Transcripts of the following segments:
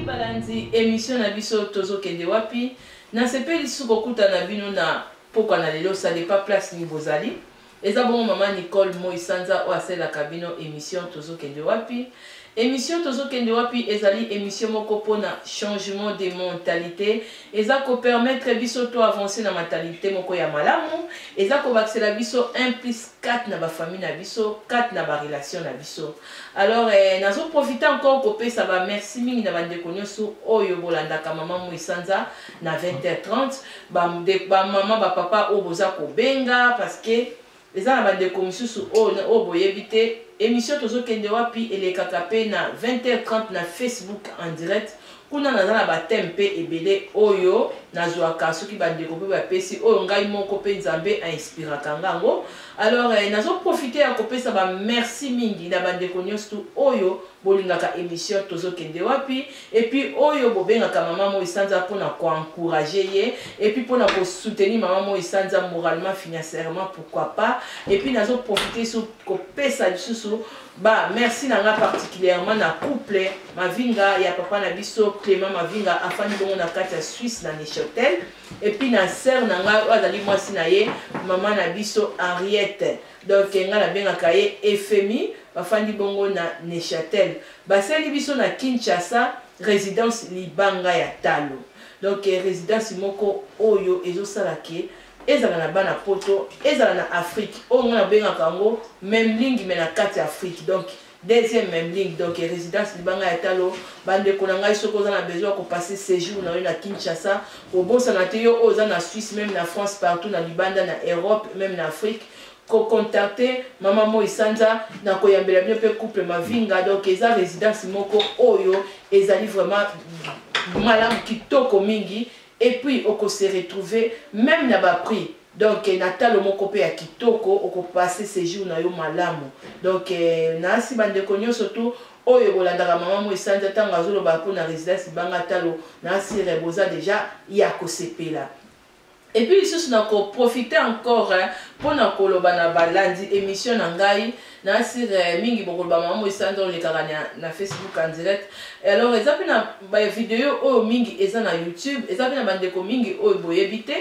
balanzi emission na biso tozokende wapi nasepeli lisusu kokutana bino na pokwa na lelo ça dépend place nini bozali Eza bongo maman Nicole Moi Sanza oyo asalelaka bino emission Tozokende wapi? Emission Tozokende wapi ezali emission moko mpo na changement de mentalite, eza ko permettre biso to avancer na mentalite moko ya malamu, eza kobakisela biso un plus quatre na ba famille na biso, quatre na ba relation na biso. Alors eh, nazo profiter encore kopesa ba merci mingi na ba ndeko nionso oyo bolandaka maman Moi Sanza na 20h30 ba de ba maman ba papa oyo boza kobenga parce que eza na bandeko mosusu oyo oyo boyebi te émission tozokende wapi elekaka mpe na 20h30 na facebook en direct kuna naza na bateme mpe ebele oyo nazwaka soki bandeko mpe bapesi oyo ngai moko mpe nzambe ainspiraka nga yango alors eh, nazoprofite ya kopesa bamerci mingi na bandeko nyonso tu oyo Bolingaka emission tozo kende wapi et puis oyo bobengaka maman moi sanza pona ko encourager ye et puis pona ko soutenir maman moi sanza moralement financièrement pourquoi pas et puis nazo profiter sur ko pesa lisusu ba merci na nga particulièrement na couple mavinga ya papa na biso Clément mavinga afandi bongo na kati ya Suisse na Neuchâtel et puis na sœur na nga oyo azali mwasi na ye maman na biso Henriette Donc nga na bengaka ye Efemi bafandi bongo na Neuchâtel basali biso na Kinshasa residence libanga ya talo donc residence moko oyo ezosala ke ezala na bana poto ezala na Afrique oyo nga na bengaka yango memlingi me na kati Afrique donc Deuxième meme ligne donc résidence libanga ya talo bandeko na ngai soki oza na besoin ya kopase séjour na yo na kinshasa obosana te yo oyo oza na suisse meme na france partout na libanda na europe meme na afrique kocontacte mama moi sanza na koyambela bino mpe couple mavinga donc eza résidence moko oyo ezali vraiment malamu kitoko mingi et puis okose retrouver meme na baprix Donc na talo moko pe ya kitoko oko passer séjour na yo malamu. Donc na si ba ndeko nyoso tout oyo bolandaka mama moi sanza tango azoloba mpo na residence libanga talo na sire boza deja ya kosepela et puis lisusu na koprofite encore mpo na koloba na balandi émission na ngai na sire mingi bokoloba mama moi sanza olekaka na, na facebook en direct alors eza mpe na bavideo oyo mingi eza na youtube eza mpe na bandeko mingi oyo boyebi te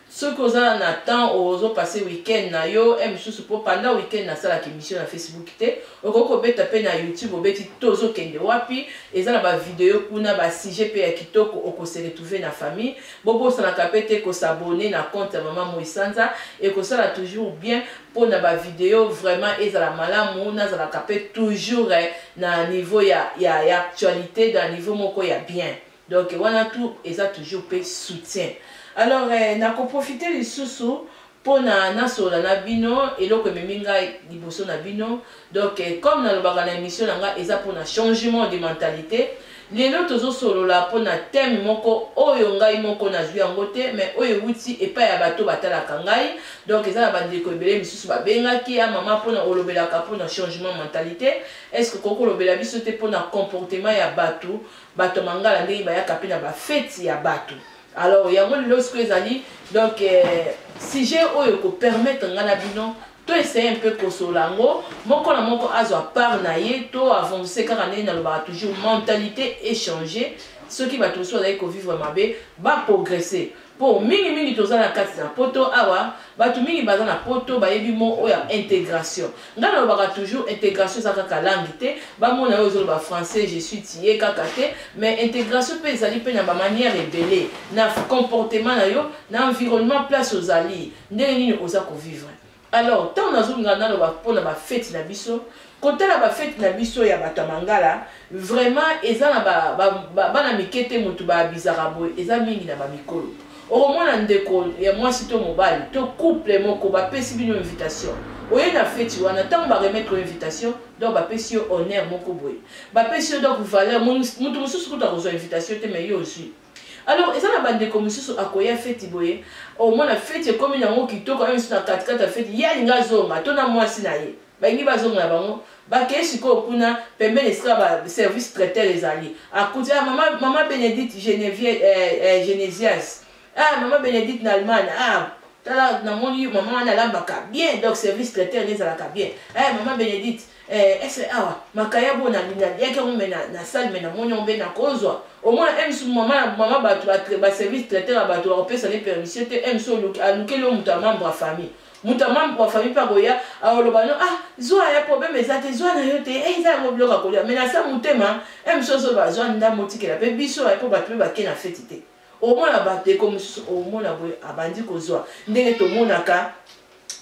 Soki oza na temps ozo passe week-end na yo e misusu po pendant week-end na salaka emission na Facebook te okoki kobeta pe na YouTube obeti tozo kende wapi eza na ba video kuna ba sujet pe ya kitoko oko se retrouver na famille bobosanaka pe te ko s'abonner na compte ya maman Moi Sanza ekosala toujours bien po na ba video vraiment ezala malamu nazalaka pe toujours na niveau ya ya actualité na niveau moko ya bien Donc wana tout eza toujours pe soutien. Alors eh, na ko profiter lisusu pona nasolola na bino eloko ememi ngai liboso na bino donc eh, comme nalobaka na émission na ngai eza mpona changement de mentalité lelo tozosolola mpo na teme moko oyo ngai moko nazwi yango te mai oyo euti epai ya bato batalaka ngai donk eza na bandeko ebele misusu babengaki ya ah, mama mpona olobelaka mpona changement mentalite estce okoki kolobela biso te mpona comportement ya bato bato ya mangala ndenge bayaka mpe na bafeti ya bato alors yango lelo sikoyo ezali donc eh, sujet oyo ekopermettre ngai na bino to essaye mpe kosola yango moko na moko azwa part na ye to avance kaka ndenge nalobaka toujours mentalité échange soki bato mosusu bazali kovivre mabe baprogresse Po mingi mingi toza na kati na poto awa batu mingi baza na poto bayebi mot oyo ya integration nga nalobaka toujours integration eza kaka langue te bamona yo ozoloba français je suis tie kaka te mais integration pe ezali pe na ba manière ebele na comportement na yo na environnement place ozali ndenge nini oza ko vivre Alors, ntango nazolingaka naloba mpo na bafeti na biso, kotala bafeti na biso ya bato ya mangala vraiment eza na bana ba, ba, ba mike te moto baabizaka boye eza mingi na bamikolo okomona ndeko ya mwasi to mobali to couple moko bapesi bino invitation oye na feti wana ntango baremettre invitation donc bapesi yo honneur moko boye bapesi yo donc valeur moto mosusu kutu akozwa invitation te mai yo ozwi alors eza na bandeko mosusu akoya feti boye omona feti ekomi nango kitoko na misu na katikati ya feti ye alingi azonga to na mwasi na ye balingi bazonga na bango bakei sikoyo kuna pembeni esika baservice traiteur ezali akuti ah, mama, mama benedite genesias eh, eh, ah, mama benedite na allemagne ah, tala namoni mama wana alambaka bien donc service traiteur nde ezalaka bien eh, mama benedite Eh, est-ce que awa makayabo oyo nalingi naliaki yango me nasali me namoni yango mpe nakozwa omona ems mama mama bato baservice traiter ya bato bakopesa ne permission te ems alukeli yo moto ya membre ya famille moto ya membre ya famille mpe akoya akoloba no ah zwa ya problème eza te zwa na yo te eh, eza yango biloko akolia me nasa motema ems ozoloba zwa ndambo otikela mpe biso mpo bato mpe bake na feti te Omona ba ndeko mosusu omona boye abandi kozwa ndenge tomonaka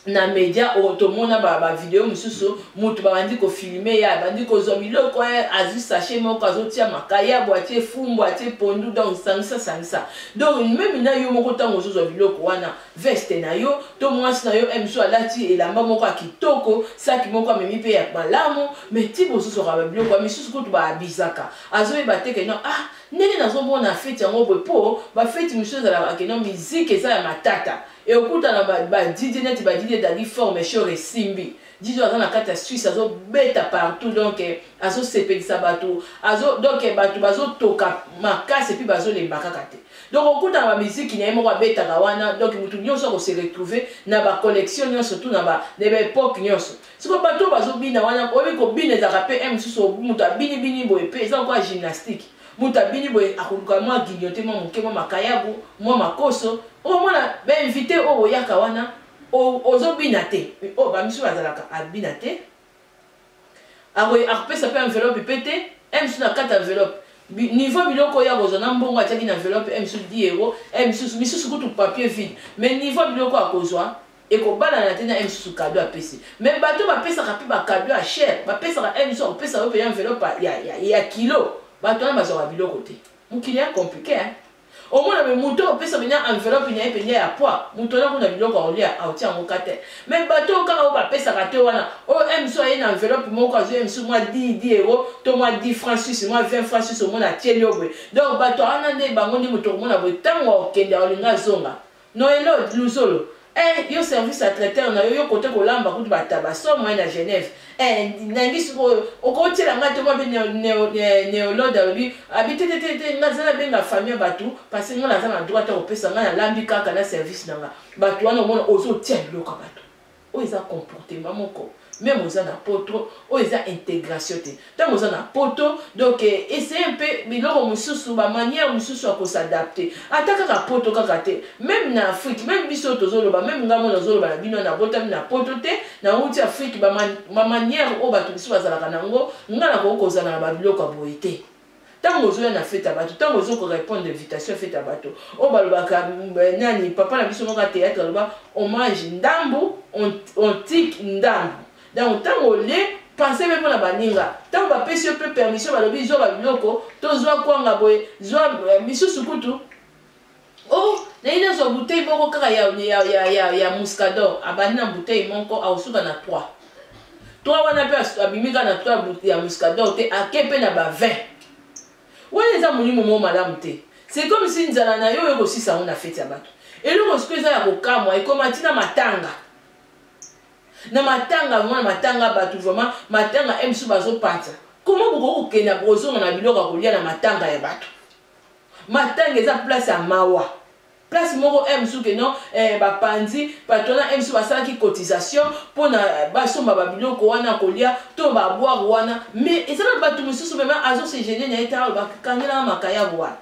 na media oyo tomona bavideo ba mosusu moto babandi kofilme ye abandi kozwa biloko ye eh, azwi sashe moko azotia makayabo atie fumbu atie pondu donc sangisa sangisa donc meme na yo moko ntango ozozwa biloko wana veste na yo to mwasi na yo emso eh, alati elamba moko ya kitoko saki moko amemi mpe ya malamu me ti bozozwaka babiloko ya misusu kutu baabizaka azoyeba te ke no ah Ndenge nazo mona feti yango boye po ba feti mosusu ezalaka ke no musique eza ya matata e okutana ba, ba DJ neti ba DJ Daddy Fort mais Shore esimbi DJ oyo aza na kati ya Suisse azo beta partout donc eh, azo sepelisa bato azo donc eh, bato bazo toka makasi puis bazo lemba kaka te donc okutana ba musique na ye moko abetaka wana donc moto nyonso ako se retrouver na ba collection nyonso tout na ba na ba epoque nyonso siko bato oyo bazobina wana oyebi kobina ezalaka mpe m mosusu moto abinibini boye mpe eza lokola gymnastique moto abini boye akoluka mwa guignote mwa moke mwa makayabu mwa makoso omona bainvite oyo oyaka wana ozobina te oyo oh, bamisu bazalaka abina te akopesa mpe enveloppe mpe te m mosusu na kati enveloppe niveau biloko oyo akozwa na mbongo atiaki na enveloppe m mosusu 10 euro m mosusu misusu kutu papier vide mais niveau biloko akozwa ekobalana te na ye mosusu kado apesi me bato bapesaka mpe bakado ya chere bapesaka ye mosusu akopesa yo mpe ya enveloppe ya, ya, ya kilo bato wana bazwaka biloko te mokili ya komplike eh? omona me moto opesa mpenza enveloppe na ye mpenza ya poi moto wana kuna biloko aolia aotia yango ka te me bato oyo kaka oyo bapesaka te wana oyo oh, mso aye na enveloppe moko azwi mso mwa 10 10 euro to mwa 10 franc suisse mwa 20 franc suisse omona atieli yo boye donc bato wana nde bango nde moto okomona boye ntango akokende aolinga azonga Noelod luzolo eh yo service ya traiteur na yo yo kote kolamba kutu ba taba so moyen na Genève eh nangi sikoyo okotiela nga te mwa be neolode alobi abi te te te te nga zala benga famille ya bato parce que nga naza na droit ya kopesa nga nalambi kaka na service na nga bato wana omona ozotia biloko ya bato oyo eza comportement moko meme oza na poto oyo eza integration te ntango oza na poto donc eh, essaye mpe biloko mosusu bamanière mosusu ya kosadapte ata kaka poto kaka te meme na afrike meme biso tozoloba meme ngai mona ozoloba na bino nabotami na poto te nauti afrike bamanière oyo bato mosusu bazalaka na yango ngai nakoki kozala na babiloko ya boye te ntango ozoya na fete ya bato ntango ozo korepondre invitation ya fete ya bato oyo balobaka eh, nani papa na biso moko ya théâtre aloba on mange ndambu on tike ndambu donc ntango olie pense mpe mpo na baninga ntango bapesi yo mpe permission balobi zwa babiloko to zwa kwanga boye zwa eh, misusu kutu Oh, naye nazwa bouteille moko kaka ya, ya, ya, ya, ya muscador abandi na bouteille moko akosuka na 3 3 wana mpe abimi kaka na 3 ya muscador te ake mpe na ba 20 wana eza molimo moko malamu te c'est comme si nzala na yo oyo kosisa yango na feti ya bato eloko siko eza ya kokamwa ekoma ntina matanga na matanga vraimen na matanga bato vraimen matanga msu bazopanza koma bokoki kokenda bokozonga na biloko ya kolia na matanga ya bato matanga eza place ya mawa place moko eh, mosusu ke non eh, bapanzi patronat eh, mosusu basalaki cotisation mpo na eh, basomba babiloko wana kolia to babware wana mais eza na bato mosusu vraimen azosegene na ye tala bakangelaka makayabu wana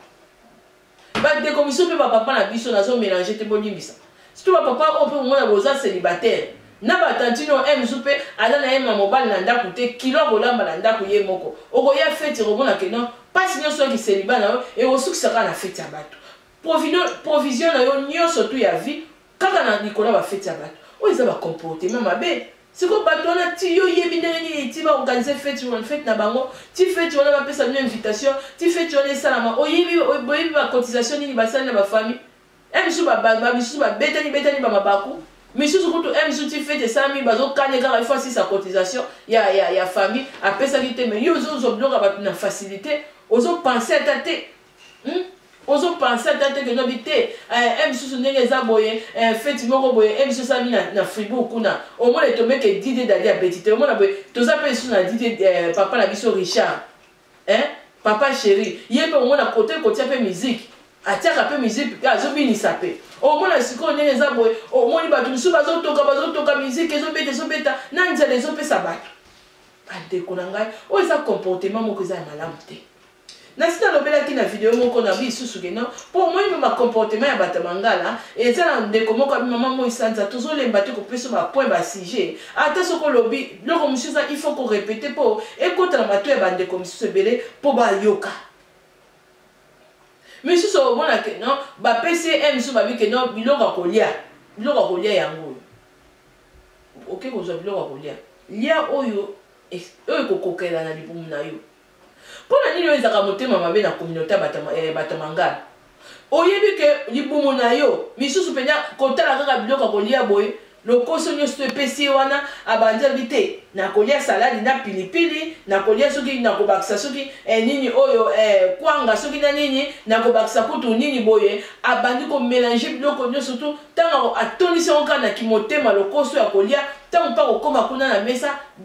bandeko mosusu mpe bapapa na biso nazomelange te bolimbisa Surtout ba papa oyo pe komona boza celibataire na ba tantine oyo un jour pe aza na ye ma mobali na ndaku te kilo akolamba na ndaku ye moko okoya feti okomona ke non pasi nionso ya kiseliba na yo ekosukisa kaka na feti ya batu provision na yo nionso tu ya vie kaka na likolo ya ba feti ya batu oyo eza ba comportement mabe siko bato wana ti yo yebi ndenge nini ti baorganize feti wana feti na bango ti feti wana bapesa bino invitation ti feti wana esalama oyebi boyebi bacotisation nini basali na bafamille He misusu ba ba misusu ba betani betani ba mabaku misusu kutu he misusu ti fete esalami bazo kane kaka il faut asisa cotisation ya ya ya famille apesaki te mais yo ozo zo biloko ya batu na facilite ozo pense ata te hmm? ozo pense ata te kendo bi te eh, he misusu ndenge eza boye eh, fete moko boye he misusu esalami na, na fribourg kuna omona etomeke didie dadi abeti te omona boye toza mpe lisusu na didie eh, papa na biso richard hein papa chéri ye mpe omona kote kotia mpe miziki atiaka mpe miziki mpe azobinisa mpe omona sikoyo ndenge eza boye omoni bato mosusu bazotoka bazotoka miziki ezobeta ezobeta na nzela ezopesa bato bandeko na ngai oyo eza comportement moko eza ya malamu te nasi nalobelaki na video moko na bisusu keno mpo omoni mpe bacomportement ya bato ya mangala eza na ndeko moko abi mama moi sanza tozolemba te kopesa bapoint basujet Ata soki olobi biloko mosusu eza il faut ko repeter mpo ekota na mato ya bandeko mosusu ebele mpo bayoka misusu omona ke non bapesi ye misusu babi ke non biloko ya kolia biloko ya kolia yango oyo oke kozwa biloko ya kolia lia oyo oyo ekokokela na libumu na yo Pona nini oyenzaka motema mabe na communaute ya bata eh, bata mangala? Oyebi ke libumu na yo misusu pena kotala kaka biloko ya kolia boye lokoso nioso epesi ye wana abandi alobi te nakolia saladi na pilipili nakolia soki nakobakisa soki eh, nini oyo eh, kwanga soki na nini nakobakisa kutu nini boye abandi komelange biloko nioso tu ntango atondisi yango kaka na kimotema lokoso ya kolia ntango mpe akokoma kuna na mesa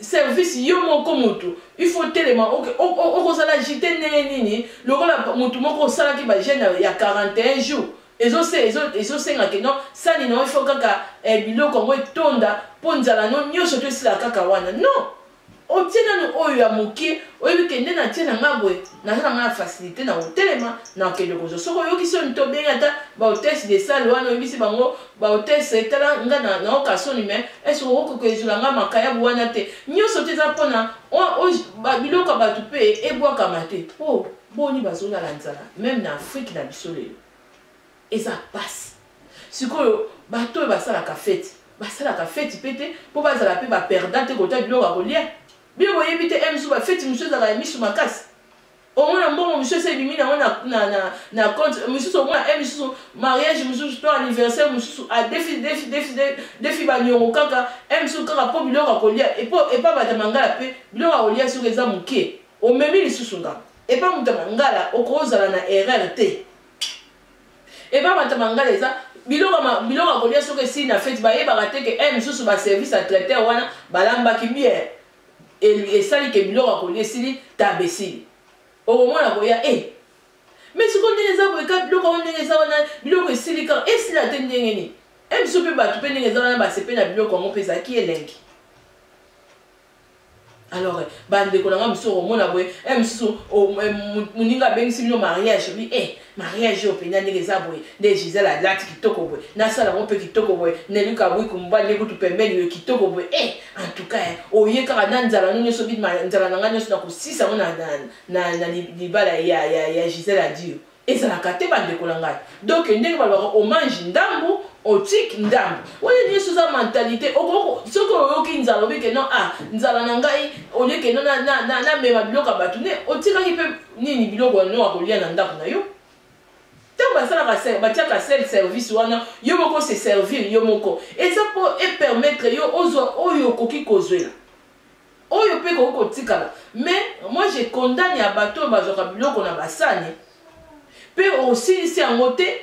service yo moko mutu il faut telema okozala jite ndenge nini lokola mutu moko osalaki bagene ya 41 jours ezosenga ke no sani nao ifo kaka eh, biloko yango etonda mpo nzala no nyonso to esila kaka wana non otie nanu oyo ya moke oyebi ke nde natie na nga boye naza na nga na facilité na kotelema na kokende kozwa soki oyokisi oyo nto obengi ata baotese de sale wana oyebisi bango ba hotels etala nga na na oka soni mais est ce okoki koezula nga makayabu wana te nyonso te eza mpona biloko ya bato mpe ebwakama te mpo oh, boni bazolala nzala meme na afrike na biso lelo eza pasi sikoyo bato oyo basalaka feti basalaka feti mpe te mpo bazala mpe baperdant te kota biloko ya kolia bino boyebi te msu bafeti mosusu ezalaka ya miso makasi omona mbongo mosusu esi ebimi nango na compte mosusu omona e mosusu mariage mosusu to anniversaire mosusu adefidefidefi baniongo kaka e mosusu kaka mpo biloko akolia epa bata mangala mpe biloko akolia soki eza moke omemi lisusu nga epa moto ya mangala okozala na erreur te epa bata mangala eza biloko akolia soki esili na feti bayebaka te ke e mosusu baservice ya traiteur wana balambaki bien elu esali ke biloko ya kolia esili taba esili okomona koya e eh, me sikoyo ndenge eza boye ka biloko yango ndenge eza wana biloko esili kaka esila te ndenge nini e biso mpe bato mpe ndenge eza wana basepe na biloko yango mpe ezalaki elengi alors bandeko na ngai mosusu okomona boye e mosusu moninga abengisi bino mariage bi e mariage oyo mpenza ndenge eza boye nde gisele alati kitoko boye nasala yango mpe kitoko boye neli kabuiku mobali nde kutu pembeni yo kitoko boye e eh, antuka eh, oye kaka na nzala no nyonso bidma nzala na ngai nyonso nakosisa yango na libala ya gisele adio ezalaka te bandeko na ngai donk ndenge balobaka omange ndambu otiki ndambu oyo nyonso eza mentalite soki oyoki nzala obike no a ah, nzala na ngai oleke no namema biloko ya bato ne otikaki mpe nini biloko ya noa kolia na ndako na yo ntango basalaka batiaka sel service wana yo moko se servir yo moko eza mpo epermettre yo ozwa oyo okoki kozwela oyo mpe ekoki kotikala mais moi je condamne ya bato oyo bazwaka biloko na basani mpe osilisi yango te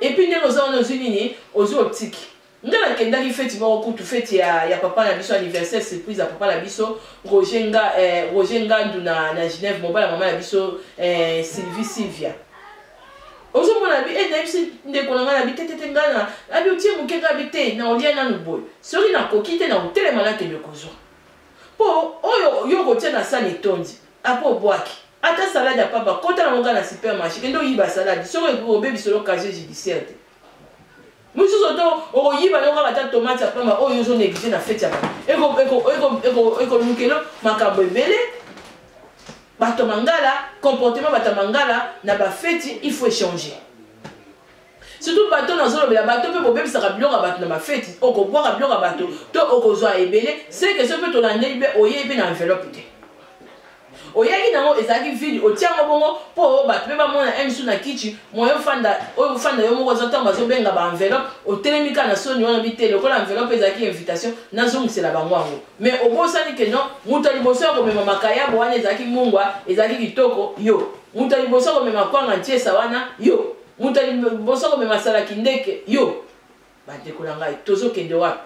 epuis ndenge oza wana ozwi nini ozwi otiki Nga na kendaki feti moko kutu feti ya, ya papa na biso anniversaire surprise ya papa na biso Roger nga eh, Roger Ngandu na na Genève mobala mama na biso eh, Sylvie Sylvia ozomona bi e nayebisi ndeko na ngai na bitetete ngai na abi otie moke ngai abi te na olia nanu boye soki nakoki te na kotelema nakende kozwa mpo oyo yo okotia na sani etondi apo obwaki ata salade ya pamba kota nango ngai na supermarché kende oyiba salade soki obebisolo casier judiciaire te mosusu oto okoyiba yo kaka ata tomate ya pamba oyo ozo neglige na feti ya bato ekolukelo makambo ebele bato ya mangala comportement bato ya mangala na bafeti il faut échanger surtout bato nazolobela bato mpe bobebisaka biloko ya bato na bafeti okobwaka biloko ya bato to okozwa ebele seke so mpe tolandeli mpe oyei mpe na enveloppe te oyaki nango ezalaki vide otia yango bongo mpo bato mpe bamona emi su na kichi moye ofanda oyo ofanda yo moko oza ntango bazobenga ba enveloppe otelemi kaka na soni wana bite lokola enveloppe ezalaki invitation nazongisela bango yango mais obosani ke non moto ya liboso ya komema makayabo wana ezalaki mungwa ezalaki kitoko yo moto ya liboso ya komema kwanga ntiesa wana yo moto ya liboso ya komema salaki ndeke yo bandeko na ngai tozokende wapi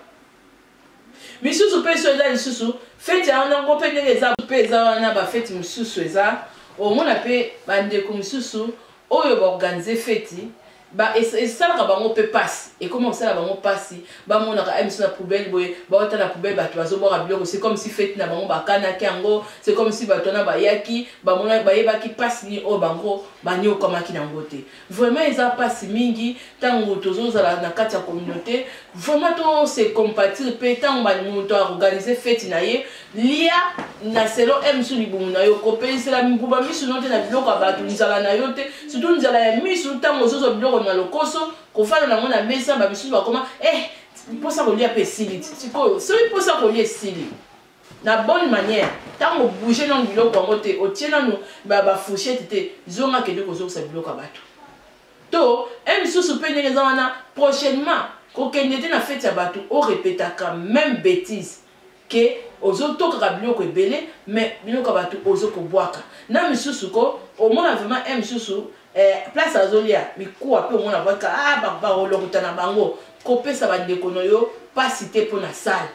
misusu mpe so eza lisusu feti yango nango mpe ndenge eza mpe eza wana bafeti mosusu eza omona mpe bandeko mosusu oyo baorganize feti esalaka bango mpe mpasi ekoma kosala bango mpasi bamonaka emiso na poubele boye bawata na poubele bato bazobwaka biloko se comme si feti na bango bakanaki yango se comme si bato wana bayaki bayebaki mpasi nini oyo bango banyokwamaki na yango te Vraiment eza pasi mingi tango tozo zala na kati ya communauté vraiment to se compatir pe tango ba moto a organiser fête na ye lia na selo m su libumu na yo ko pelisela mbuba misu no te na biloko ya bato nzala na yo te surtout nzala ya misu tango ozo zo biloko na lokoso ko fana na ngo na mesa ba misusu bakoma eh posa kolia pe esili sikoyo soki posa kolia esili na bonne manière tango bouger nanu biloko yango te otie nanu ba fourchette te zonga kende kozongisa biloko ya bato to e misusu mpe ndenge eza wana prochainement kokende te na feti ya bato orepetaka meme bétise ke ozotokaka biloko ebele me biloko ya bato ozo kobwaka na misusu ko omona vraiment e misusu eh, place azolia mikuwa mpe omona baka ah, bakolokota na bango kopesa bandeko na yo mpasi te mpo na sale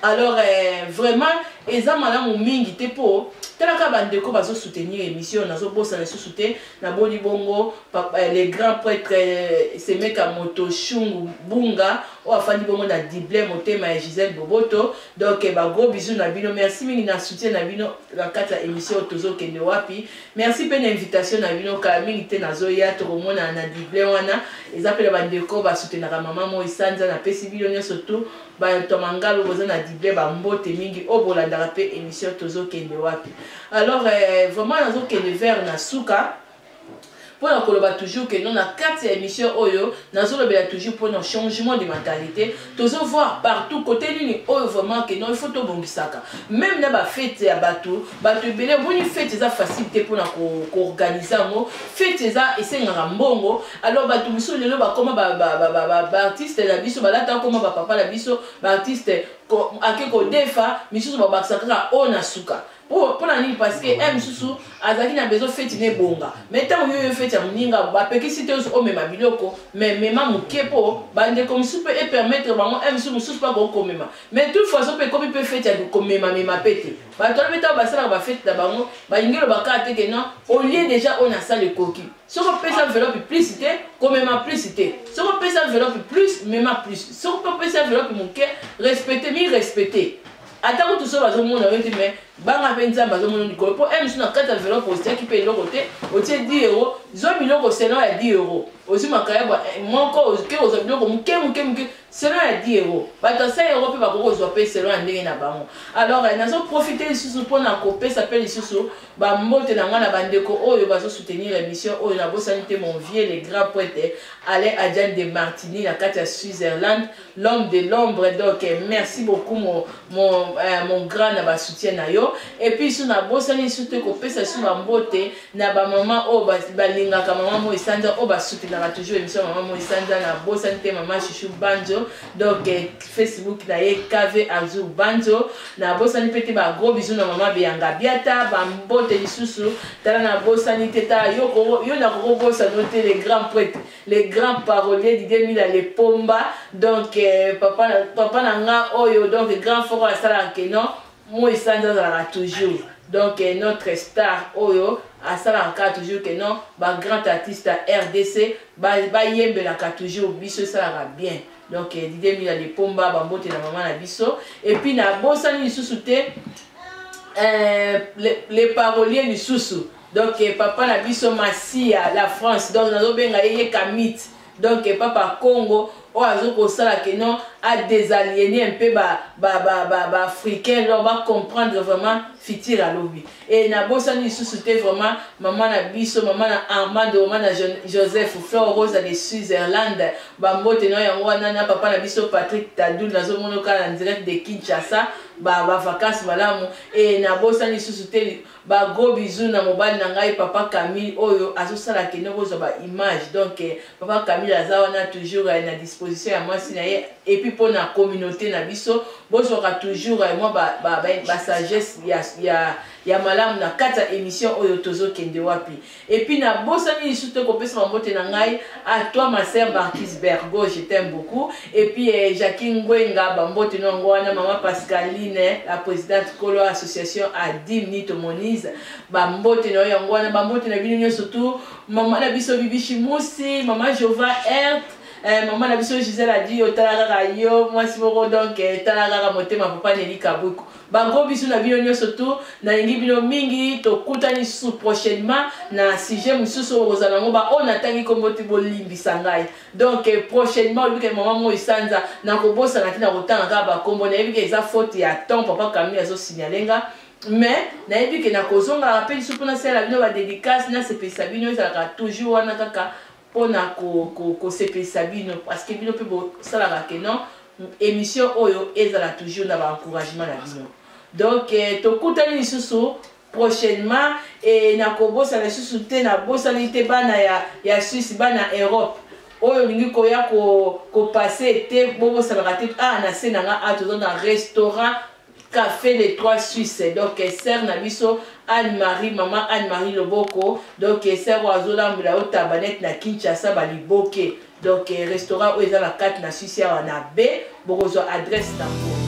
alors eh, vraiment eza malamu mingi te mpo talaka bandeko bazosoutenir émission nazobosana lisusu te na boni bongo eh, le grand prêtre eh, semeka moto shungu bunga oyo afandi bongo na dible motema ya gisele boboto donc eh, bagros bisou na bino merci mingi na soutien na bino na kati ya émission oyo tozokende wapi Merci pe na invitation na bino kala mingi te nazoya tokomonana na Dublin wana eza pe na bandeko basutenaka mama moi sanza napesi bino nyonso tu bato ya mangalo boza na Dublin bambote mingi oyo bolandaka pe émission tozokende wapi alors eh, vraiment nazokende vers na suka mpo na koloba toujours que non na kati ya émission oyo nazolobela toujours mpo na changement de mentalité tozo voir partout côté nini oyo vraiment que non il faut tobongisaka même na bafete ya bato bato ebele omoni fete eza facile te mpona koorganize yango fete eza esengaka mbongo alors bato mosusu lelo bakoma baartiste na biso balata akoma bapapa na biso baartiste ake kodefa misusu babakisa kaka oyo na suka Oh, mpo na nini parceke ye eh, mosusu azalaki na besoin feti na ebonga mai ntango yo yo feti ya moninga bapekisi te omema biloko mai mema moke mpo bandeko mosusu mpe epermettre bango eh, msu mosusu mpe akoki komema mai tout façon mpe ekomi mpe feti ya komemamema mpe te bato wana mpe ntango basalaka bafeti na bango balingi elobaka te ke non olie déjà oyo nasala ekoki soki opesa enveloppe plus te komema plus te soki opesa enveloppe plus mema plus soki mpe opesa enveloppe moke respecte mi respecte ata kutu so bazomona yo te me banga mpe nzambe azomona likolo mpo emisu na kati ya enveloppe otiaki mpe eloko te otie 10 euro zwa biloko selon ya 10 euro ozwi makayabwa eh, moko oke kozwa biloko moke moke moke selon ya 10 euro bato ya 100 euro mpe bakoki kozwa mpe selon ya ndenge na bango alors eh, nazoprofite lisusu mpo na kopesa mpe lisusu bambote na ngai na bandeko oyo bazosoutenir émission oyo nabosani te mon vieux le grand poete alain adiane de martini na kati ya switzerland l'homme de l'ombre donc eh, merci beaucoup mon, mon, euh, mon grand na basoutien na yo epuis so nabosani lisu te kopesa lisu bambote na bamama oyo oh, balingaka mama moi sanza oyo oh, basutenaka toujours émission mama moi sanza nabosani te mama chuchu banjo donc eh, facebook na ye kv azur banjo nabosani mpe te bagros bisu na mama beyanga biata bambote lisusu tala nabosani te ta yo, yo nakokobosano te le grand prêtre le grand parolier Didier Mila le Pomba donc euh, papa papa na nga oyo donc grand foko asalaka que non moi sanza azalaka toujours donc euh, notre star oyo asalaka kaka toujours que non ba grand artiste ya rdc bayembelaka ba toujours biso esalaka bien donc euh, Didier Mila le Pomba bambote na mama na biso et puis na bosani lisusu te euh, le, le parolier lisusu donc eh, papa na biso masiya la france donc nazobenga ye ye kamit donc eh, papa congo oyo azokosala ke non adesaliene mpe baafricain lor bacomprendre vraiment fitir alobi e nabosani lisusu te vraiment mama na biso mama na armando mama na joseph flor rosa de switzerland bambote na yango wana na papa na biso patrick tadul nazomonoka na direct de kinshasa bavacance malamu e nabosani lisusu te Ba gros bisous na mobali na ngai papa Camille oyo azosala akende kozwa ba image donc eh, papa Camille aza wana toujours eh, na disposition ya mwasi na ye et puis mpo na communauté na biso bozwaka toujours eh, mwa ba, ba, ba, ba sagesse ya, ya, ya malamu na kati ya émission oyo tozokende wapi Et puis na bosani lisusu te kopesa mambote na ngai à toi ma sœur Marquise Bergo je t'aime beaucoup et puis eh, Jackie Ngwenga bambote no yango wana maman Pascaline eh, la présidente kolo association Adim Nito Monize bambote na yo yango wana bambote na bino nyonso tu mama na biso Bibi Shimusi mama Jova Ert eh, mama na biso Gisèle adi otala kaka yo mwasi moko donc eh, tala kaka motema papa Nelly Kabuku Ba gros bisous na bino nioso tout na lingi bino mingi tokutani sous prochainement na sujet mususu oyo kozala yango ba oyo natangi kombo ti bolimbisa ngai donc eh, prochainement oyebi ke mama moi sanza nakobosana ti nakotanga kaka bakombo nayebi ke eza faute ya temps papa kamili azosignale nga mais nayebi ke nakozongaka mpe lisusu mpo nasalela bino badedicace nasepelisa bino ezalaka toujours wana kaka pona ko sepelisa bino parce que bino pe bo salaka que non emission oyo ezala toujours na ba encouragement na bino donc to kutani lisusu prochainement et na ko bosana lisusu te na bosani te bana ya ya Suisse bana Europe oyo olingi koya ko ko passer te bo bosanaka te ah na se na nga ah toza na restaurant Café les trois suisses donc sœur na biso Anne Marie maman Anne Marie Loboko donc sœur oyo azolambela yo tabanette na Kinshasa baliboke donc restaurant oyo eza na kati na Suisse awa na B bokozwa adresse na yango